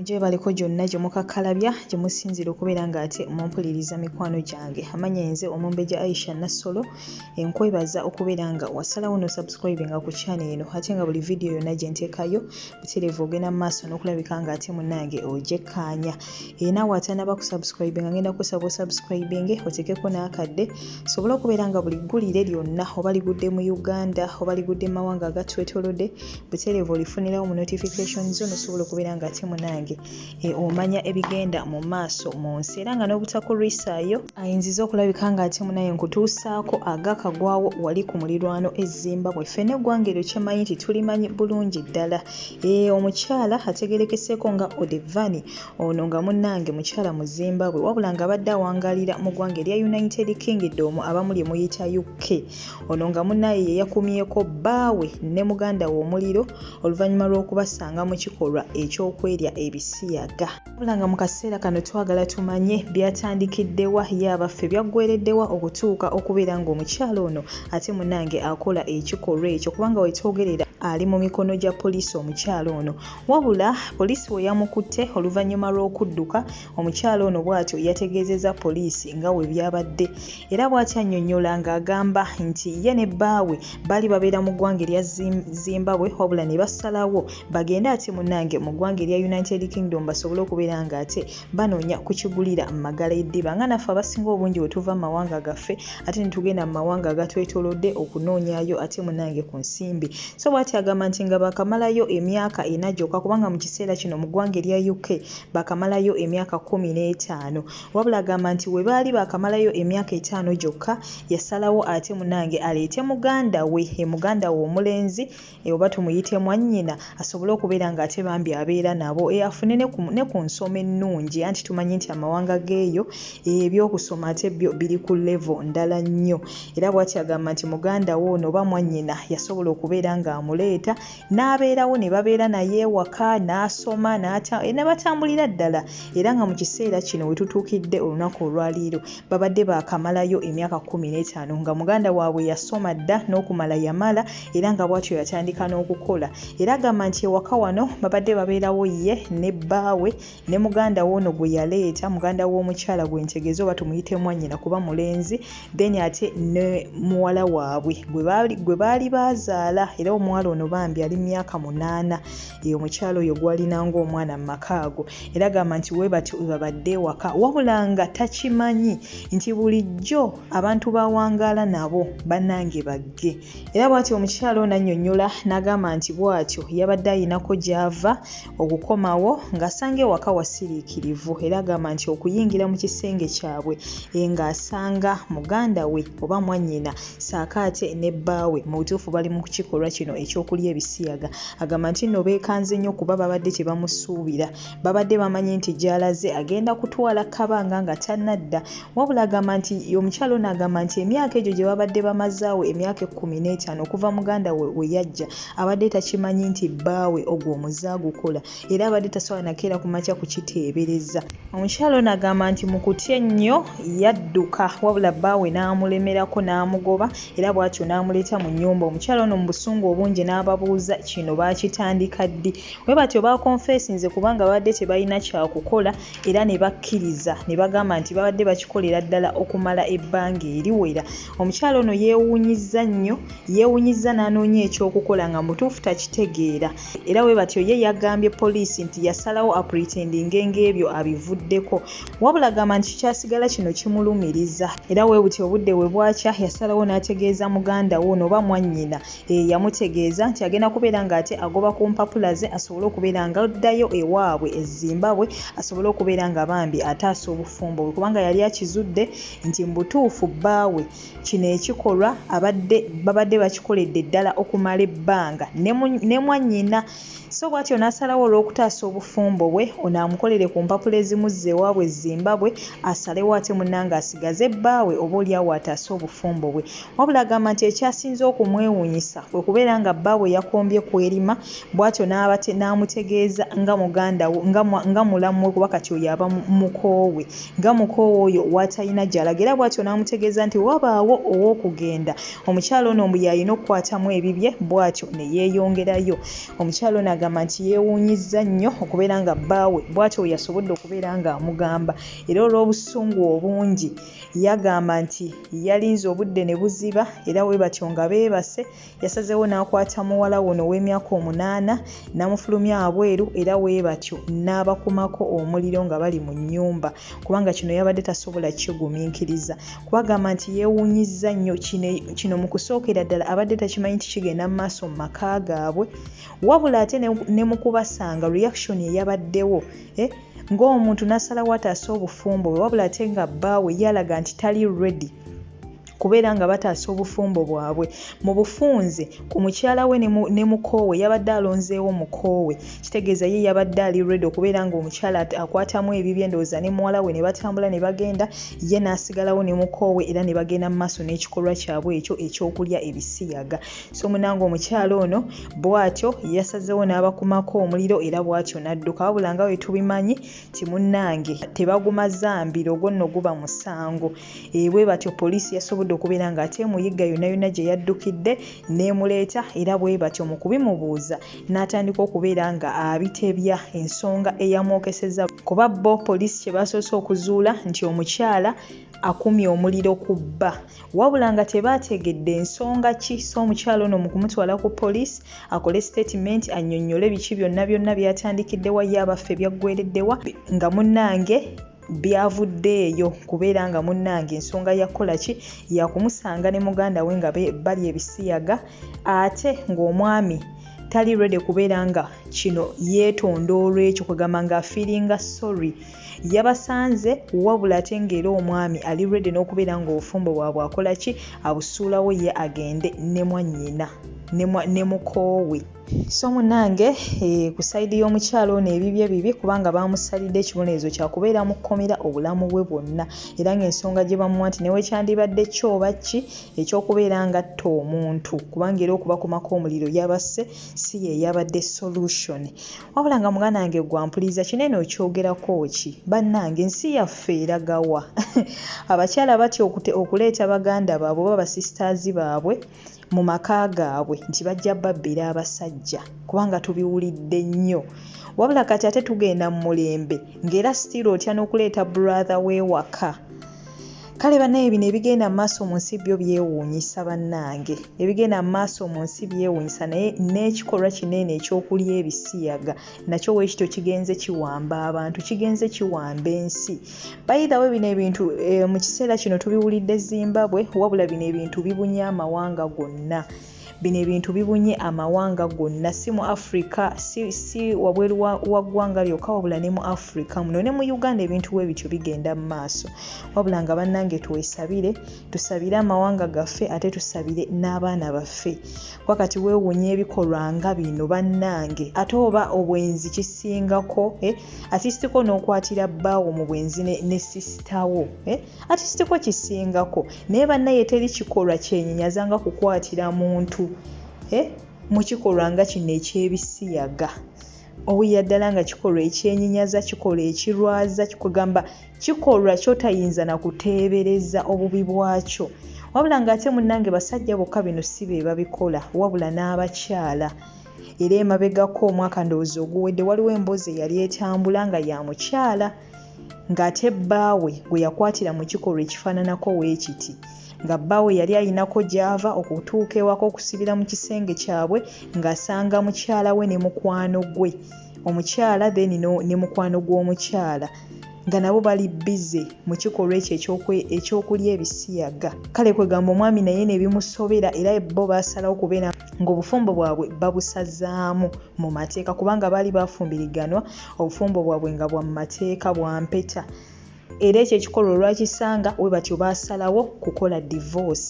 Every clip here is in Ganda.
gyebaliko gyonna gye mukakkalabya gye musinziira okubeera ng'ate mumpuliriza mikwano gyange amanya enze omumbejja aisha nassolo enkwebaza okubeera nga wasalawo no subscribe nga ku kyana eno ate nga buli vidiyo yonna gye nteekayo butereevu ogenda mu maaso n'okulabika ng'ate munnange ogyekkaanya era nawe atanaba ku subscribe nga ngenda kusaba osubscribinge otekeko n'akadde sobola okubeera nga buli ggulire lyonna oba ligudde mu uganda oba ligudde mu mawanga agatwetolodde butereevu olifunirawo mu notification zo nosobola okubeera nga ate munange e, omanya ebigenda mu maaso mu nsi era nga n'obutakulwisaayo ayinziza okulabika nga ate munaye nkutuusaako agakagwawo wali ku mulirwano ezzimba bwe ffena eggwanga eryo kyemanyi nti tulimanyi bulungi ddala Ee, eh, omukyala ategerekeseeko nga Odevani ono nga munnange mukyala mu Zimbabwe wabula ng'abadde awangalira mu ggwanga erya United Kingdom abamu lye muyita UK. Ono nga munnaye ye yakumyeko bbaawe ne muganda we omuliro oluvannyuma lw'okubasanga mu kikolwa eky'okwerya ebisiyaga. wabula nga mu kaseera kano twagala tumanye byatandikiddewa ye abaffe byaggwereddewa okutuuka okubeera ng'omukyala ono ate munange akola ekikolwa ekyo kubanga wetwogerera ali mu mikono gya poliisi omukyala ono wabula poliisi we yamukutte oluvannyuma lw'okudduka omukyala ono bw'atyo yategeezezza poliisi nga we byabadde era bw'atyo annyonnyola ng'agamba nti ye ne bbaawe baali babeera mu ggwanga erya zimbabwe wabula ne basalawo bagende ate munange mu ggwanga erya united kingdom basobole okubeera nga ate banoonya kukigulira mu magala eddiba nga naffe abasinga obungi bwe tuva mu mawanga gaffe ate netugenda mu mawanga agatwetolodde okunoonyayo ate munange ku nsimbi so bwati agamba nti nga bakamalayo emyaka ena gyokka kubanga mu kiseera kino mu ggwanga erya uk bakamalayo emyaka kumi n'etaano wabula agamba nti we baali bakamalayo emyaka etaano gyokka yasalawo ate munange aleete muganda we e muganda we omulenzi e, oba tumuyite mwannyina asobole okubeera nga ate bambi abeera nabo e, afune ne ku nsoma ennungi anti tumanyi nti amawanga geeyo ebyokusoma ate byo biri ku levo ndala nnyo era bwati agamba nti muganda wo ono oba mwannyina yasobola okubeera ng'amuleeta n'abeerawo ne babeera naye ewaka n'asoma ne batambulira ddala era nga mu kiseera kino we tutuukidde olunaku olwaliiro babadde baakamalayo emyaka kkumi n'etaano nga muganda waabwe yasoma dda n'okumala yamala era nga bwatyo yatandika n'okukola era agamba nti ewaka wano babadde babeerawo ye ne bbaawe ne muganda we ono gwe yaleeta muganda w'omukyala gwe ntegeze oba tumuyite mwannyina kuba mulenzi then ate ne muwala waabwe gwe baali baazaala era omuwala ono bambi ali myaka munaana eyo omukyala oyo gwalina ng'omwana mu maka ago era gamba nti we batyo webabadde ewaka wabula nga takimanyi nti bulijjo abantu bawangaala nabo bannange bagge era bwatyo omukyalo nanyonyola n'agamba nti bwatyo yabadde ayinako gy'ava okukomawo ng'asanga ewaka wasiriikirivu era agamba nti okuyingira mu kisenge kyabwe e, ng'asanga muganda we oba mwannyina saako ate ne bbaawe mu butuufu bali mu kikolwa kino eky'okulya ebisiyaga agamba nti nno beekanze nnyo kuba babadde tebamusuubira babadde bamanyi nti gy'alaze agenda kutwala kabanga nga tannadda wabula agamba nti omukyalo ono agamba nti emyaka egyo gye babadde bamazaawo emyaka ekkumi n'etaano okuva muganda we we yajja abadde takimanyi nti bbaawe ogwo omuzaagukola era abadde tasobola nakeera ku makya kukiteebereza omukyala ono agamba nti mu kutya ennyo yadduka wabula bbaawe n'amulemerako n'amugoba era bw'atyo n'amuleeta mu nnyumba omukyala ono mu busungu obungi n'ababuuza kino baakitandika ddi bwe batyo baakonfeesinze kubanga babadde tebalina kyakukola era ne bakkiriza ne bagamba nti babadde bakikolera ddala okumala ebbanga eriwera omukyala ono yeewuunyizza nnyo yeewuunyizza n'anoonya ekyokukola nga mutuufu takitegeera era bwe batyo ye yagambye poliisi nti yasalawo apretendinge ng'ebyo abivuddeko wabula gamba nti kikyasigala kino kimulumiriza era bwe butyo obudde we bwakya yasalawo n'ategeeza muganda wo nooba mwannyina eyamutegeeza nti agenda kubeera ng'ate agoba ku mpapula ze asobole okubeera nga addayo ewaabwe e zimbabwe asobole okubeera nga bambi ataasa obufumbo bwe kubanga yali akizudde nti mu butuufu bbaawe Kino ekikolwa abadde babadde bakikoledde ddala okumala ebbanga ne mwannyina so bwatyo n'asalawo olw'okutaasa obufumbo bwe ono amukolere ku mpapula ezimuzza ewaabwe e Zimbabwe asalewo ate munnange asigaze bbaawe oba olyawo ataase obufumbo bwe. Wabula agamba nti ekyasinze okumwewuunyisa kwe kubeera nga bbaawe yakombye ku erima bwatyo n'amutegeeza nga mulamu we kuba kati oyo aba mukoowe. nga mukoowa oyo w'atalina gy'alaga era bw'atyo n'amutegeeza nti wabaawo ow'okugenda omukyala ono mbu y'alina okukwatamu ebibye bw'atyo ne yeeyongerayo omukyala ono agamba nti yeewuunyizza nnyo okubeera nga bbaawe bw'atyo we yasobodde okubeera ng'amugamba era olw'obusungu obungi yagamba nti yalinze obudde ne buziba era we batyo nga beebase yasazeewo n'akwata muwala wono ow'emyaka omunaana n'amufulumya abweru era weebatyo n'abakumako omuliro nga bali mu nnyumba kubanga kino yabadde tasobola kigumiikiriza kubagamba nti yeewuunyizza nnyo kino mu kusookera ddala abadde takimanyi nti kigenda mu maaso mu maka gaabwe wabula ate ne mu kubasanga reaction eyabaddewo eh, ng'omuntu n'asalawo ataasa obufumbo bwe wabula ate nga bbaawe yalaga nti tali ready kubeera nga bataasa obufumbo bwabwe mu bufunze ku mukyala we ne mukoowe yabadde alonzeewo mukoowe kitegeeza ye yabadde ali redi okubeera nga omukyala akwatamu ebibye endowooza ne muwala we ne batambula ne bagenda ye n'asigalawo ne mukoowe era ne bagenda mu maaso n'ekikolwa kyabwe ekyo ekyokulya ebisiyaga so munanga omukyala ono bw'atyo yasazeewo n'abakumako omuliro era bw'atyo n'adduka wabula nga we tubimanyi timunnange tebaguma zambiro ogwo nno guba musango E, bwe batyo poliisi yasobodde okubeera ng'ate emuyigga yonna yonna gye yaddukidde n'emuleeta era bwe batyo mu kubimubuuza n'atandika okubeera nga abitebya ensonga eyamwokeseza kuba bo poliisi kye baasoose okuzuula nti omukyala akumye omuliro ku bba wabula nga tebaategedde nsonga ki so omukyala ono mu kumutwala ku poliisi akole sitatimenti annyonnyole biki byonna byonna byatandikiddewa ye abaffe byaggwereddewa nga munnange byavudde eyo kubeera nga munnange ensonga yakukola ki yakumusanga ne muganda we nga bali ebisiyaga ate ng'omwami tali rede kubeera nga kino yeetonda olwekyo kwegamba nga afiiringa sorry yabasanze wabula ate ngaera omwami ali rede n'okubeera ng'obufumbo bwabwe akola ki abusuulawo ye agende ne mwannyina ne mukoowe so munange eh, ku sayidi y'omukyalo ono ebibye bibi kubanga baamusalidde ekibonerezo kyakubeera mu kkomera obulamu bwe bwonna era ng'ensonga gye bamuwa nti newekyandibadde kyoba ki ekyokubeera ngatta omuntu kubanga era okubakumako omuliro yabasse si ye yabadde solution wabula nga muganda wange gwampuliriza kinene okyogerako ki bannange ensi yaffe eragawa abakyala batya okuleeta baganda baabwe oba basistaazi baabwe mu maka gaabwe nti bajja babbira abasajja kubanga tubiwulidde nnyo wabula kati ate tugenda mu mulembe ng'era sitiira otya n'okuleeta brother w'ewaka kale banaye bino ebigenda mu maaso mu nsi byo byewuunyisa bannange ebigenda mu maaso mu nsi byewuunyisa naye n'ekikolwa kinene ekyokulya ebisiyaga nakyo weekityo kigenze kiwamba abantu kigenze kiwamba ensi bayidawe bino ebintu eh, mu kiseera kino tubiwulidde zimbabwe wabula bino ebintu bibunye amawanga gonna bino ebintu bibunye amawanga gonna si mu africa si, si wabweru wa ggwanga lyokka wabula ne mu africa muno ne mu uganda ebintu we bityo bigenda mu maaso wabula nga bannange twesabire tusabire amawanga gaffe ate tusabire n'abaana baffe kuba kati weewunya ebikolwa nga bino bannange ate oba obwenzi kisingako eh? atisitiko n'okwatira bbaawo mu bwenzi ne sisitawo eh? atisitiko kisingako naye bannaye teri kikolwa kyenyenyaza nga kukwatira muntu eh? mu kikolwa nga kino eky'ebisiyaga owulira ddala nga kikolwa ekyenyenyaza kikolwa ekirwaza kigamba kikolwa kyotayinza nakuteebereza obubi bwakyo wabula ng'ate munnange basajja bokka bino si be babikola wabula n'abakyala era emabegako omwaka ndowooza oguwedde waliwo emboozi eyali etambula nga ya mukyala ng'ate bbaawe gwe yakwatira mu kikolwa ekifaananako weekiti nga bbaawe yali alinako gy'ava okutuuka ewaka okusibira mu kisenge kyabwe ng'asanga mukyala we ne mukwano gwe omukyala then ne mukwano gw'omukyala nga nabo bali bize mu kikolwa ekyo ekyokulya ebisiyaga kale kwegamba omwami naye nebimusobera era bo basalawo kubeera ng'obufumbo bwabwe babusazaamu mu mateeka kubanga baali bafumbiriganwa obufumbo bwabwe nga bwa mumateeka bwa mpeta era ekyo ekikolwa olwakisanga we batyo baasalawo kukola divorce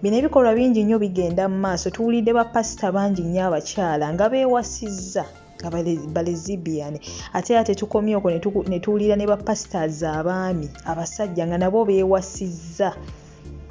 bino ebikolwa bingi nnyo bigenda mu maaso tuwulidde bapasita bangi nnyo abakyala nga beewasizza nga balezibian ate era tetukomye okwo ne tuwulira ne bapasitaazi abaami abasajja nga nabo beewasizza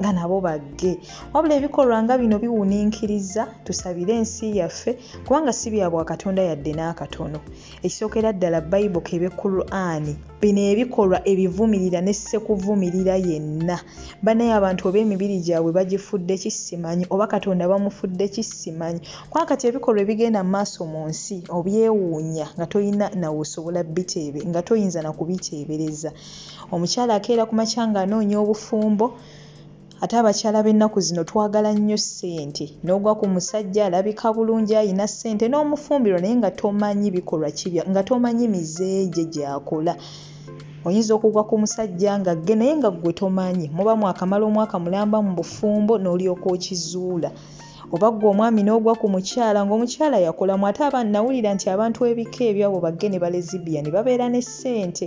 nga nabo bagge wabula ebikolwa nga bino biwuninkiriza tusabire ensi yaffe kubanga si bya bwakatonda yadde n'akatono ekisookera ddala bayibo kebe qurani bino ebikolwa ebivumirira ne ssekuvumirira yenna banaye abantu oba emibiri gyabwe bagifudde kisimanyi oba katonda bamufudde kisimanyi kuba kati ebikolwa ebigenda mu maaso mu nsi obyewuunya nga tolina nawe osobola biteebe nga toyinza na kubiteebereza omukyala akeera ku makya ng'anoonya obufumbo ate abakyala b'ennaku zino twagala nnyo ssente n'ogwa ku musajja alabika bulungi alina ssente n'omufumbiro naye nga tomanyi bikolwa kibya nga tomanyi mize gye gyakola oyinza okugwa ku musajja nga gge naye nga ggwe tomanyi muba mwakamala omwaka mulamba mu bufumbo n'olyoka okizuula oba ggwe omwami n'ogwa ku mukyala ng'omukyala yakolamu ate aba nawulira nti abantu ebika ebyabo bagge ne balezibiyani babeera ne ssente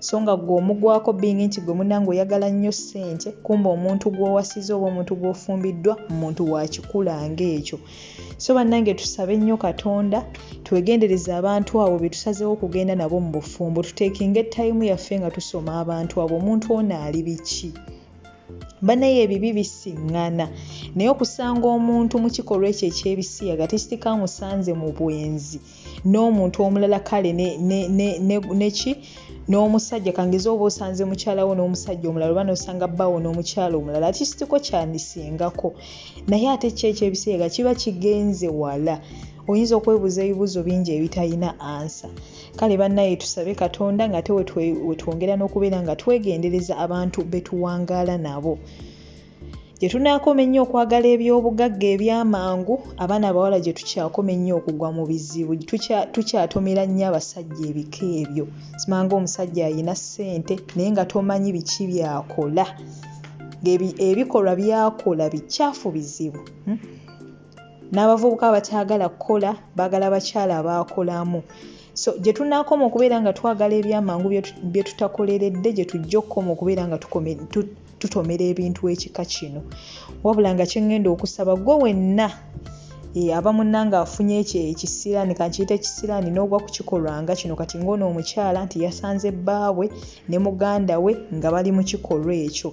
so nga gwe omugwako bingi nti gwe munange oyagala nnyo ssente kumba omuntu gw'owasiza oba omuntu gw'ofumbiddwa muntu wakikula ng'ekyo so bannange tusabe nnyo katonda twegendereza abantu abo be tusazeewo okugenda nabo mu bufumbo tuteekinga ettayimu yaffe nga tusoma abantu abo omuntu ono ali biki banaye ebibi bisiŋŋana naye okusanga omuntu mu kikolwa ekyo ekyebisiyaga tekitikamusanze mu bwenzi n'omuntu omulala kale neki n'omusajja kangeze oba osanze mukyalawo n'omusajja omulala oba nosanga bbawo n'omukyala omulala ati kitiko kyandisingako naye ate kyo ekyebiseera kiba kigenze wala oyinza okwebuuza ebibuuzo bingi ebitalina ansa kale bannaye tusabe katonda nga te wetwongera n'okubeera nga twegendereza abantu betuwangaala nabo gye tunaakoma ennyo okwagala eby'obugagga eby'amangu abaana abawala gye tukyakoma ennyo okugwa mu bizibu tukyatomera nnyo abasajja ebika ebyo simanga omusajja alina ssente naye nga tomanyi biki byakola ngaebikolwa byakola bikyafu bizibu hmm? n'abavubuka abakyagala kukola baagala bakyala abaakolamu so gye tunaakoma okubeera nga twagala ebyamangu bye tutakoleredde gye tujja okukoma okubeera nga tutomera ebintu ekika kino wabula nga kyengenda okusaba gwe wenna eh, aba munanga afunye ekyo ekisiraani kankiyita ekisiraani n'ogwa ku kikolwa nga kino kati ng'ono omukyala nti yasanze bbaawe ne muganda we nga bali mu kikolwa ekyo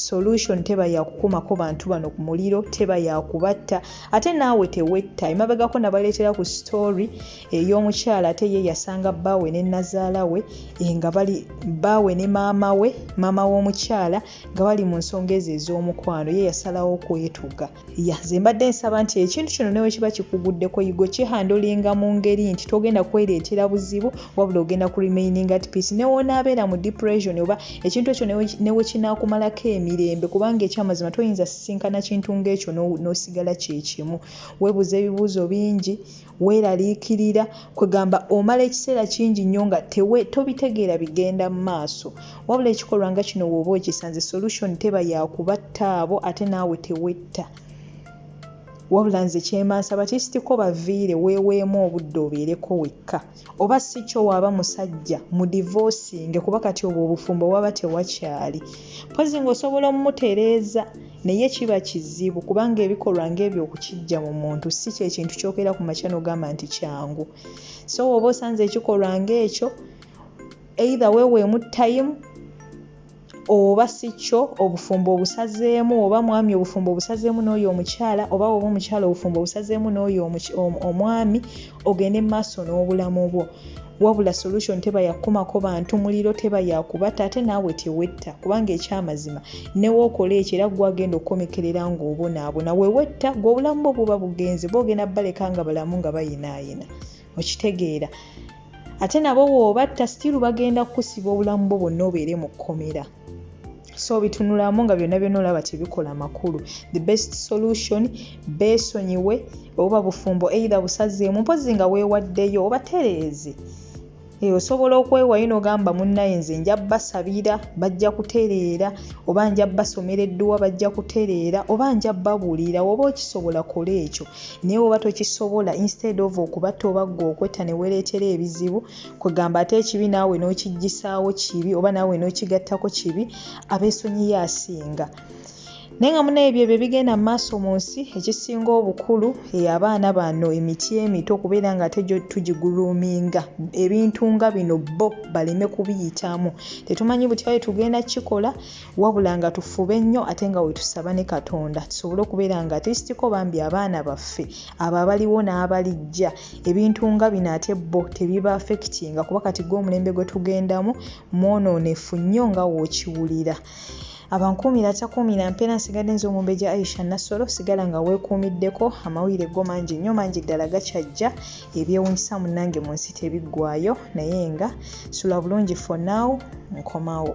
solution teba yakukumako bantu bano ku muliro teba yakubatta ate naawe tewetta emabegako nabaleetera ku story ey'omukyala ate ye yasanga bbaawe ne nnazaala we eh, nga bali bbaawe ne maama we maama w'omukyala nga bali mu nsonga ezo ez'omukwano ye yasalawo okwetuga ya ze mbadde nsaba nti ekintu kino newe kiba kikuguddeko yigo kihandolinga mu ngeri nti togenda kwereetera buzibu wabula ogenda ku remaining at peace newonaabeera mu depression oba ekintu ekyo newe kinaakumalako emirembe kubanga ekyamazima toyinza sisinkana kintu ng'ekyo n'osigala kyekimu webuuza ebibuuzo bingi weeraliikirira kwegamba omala ekiseera kingi nnyo nga tewe tobitegeera bigenda mu maaso wabula ekikolwa nga kino wooba okisanze solution teba yakubatta abo ate naawe tewetta wabula nze kyemansaba kisitiko baviire weeweemu obudde obeereko wekka oba si kyo waaba musajja mudivoosinge kuba kati obwo obufumbo waba tewakyali mpozi ng'osobola omutereeza naye kiba kizibu kubanga ebikolwa ng'ebyo okukijja mu muntu si kyekintu kyokeera ku makya nogamba nti kyangu so wooba osanze ekikolwa ng'ekyo eitha weweemu tayimu oba si kyo obufumbo obusazeemu oba mwami obufumbo obusazeemu n'oyo omukyala oba oba omukyala obufumbo obusazeemu n'oyo omwami ogende mu maaso n'obulamu bwo wabula solution teba yakukumako bantu muliro teba yakubata ate naawe tewetta kubanga ekyamazima newokola ekyo era gwagenda okukomekerera ng'obonaabona wewetta gwe obulamu bwo buba bugenze bwogenda baleka nga balamu nga bayinaayina okitegeera ate nabo woobatta sitiiru bagenda kukusiba obulamu bwo bwonna obeere mu kkomera so bitunulamu nga byonna byonna olaba tebikola makulu the best solution beesonyiwe oba bufumbo eitha busazeemu mpozi nga weewaddeyo obatereeze Eh, osobola okwewayo nogamba munnaye nze nja basabira bajja kutereera oba nja basomera edduwa bajja kutereera oba nja babuulira oba okisobola kola ekyo naye woba tokisobola instead of okuba toba gwe okwetta newereetera ebizibu kwegamba ate ekibi naawe n'okijjisaawo kibi oba naawe n'okigattako kibi abeesonyiyo asinga naye nga munaye ebyo ebyo bigenda mu maaso mu nsi ekisinga obukulu eh, abaana bano emiti emito okubeera nga ate tugiguluminga ebintu nga bino bo baleme kubiyitamu tetumanyi butya bwe tugenda kukikola wabula nga tufube nnyo ate nga wetusaba ne katonda tusobole okubeera nga atisitiko bambi abaana baffe abo abaliwo n'abalijja ebintu nga bino ate bo tebiba afekitinga kuba kati gwe omulembe gwe tugendamu mwonoonefu nnyo nga wookiwulira abankuumira atakuumira mpeera nsigadde nze omumbejja aisha nassolo sigala nga weekuumiddeko amawulire go mangi nnyo mangi ddala gakyajja ebyewunyisa munange mu nsi tebiggwayo naye nga sula bulungi for now nkomawo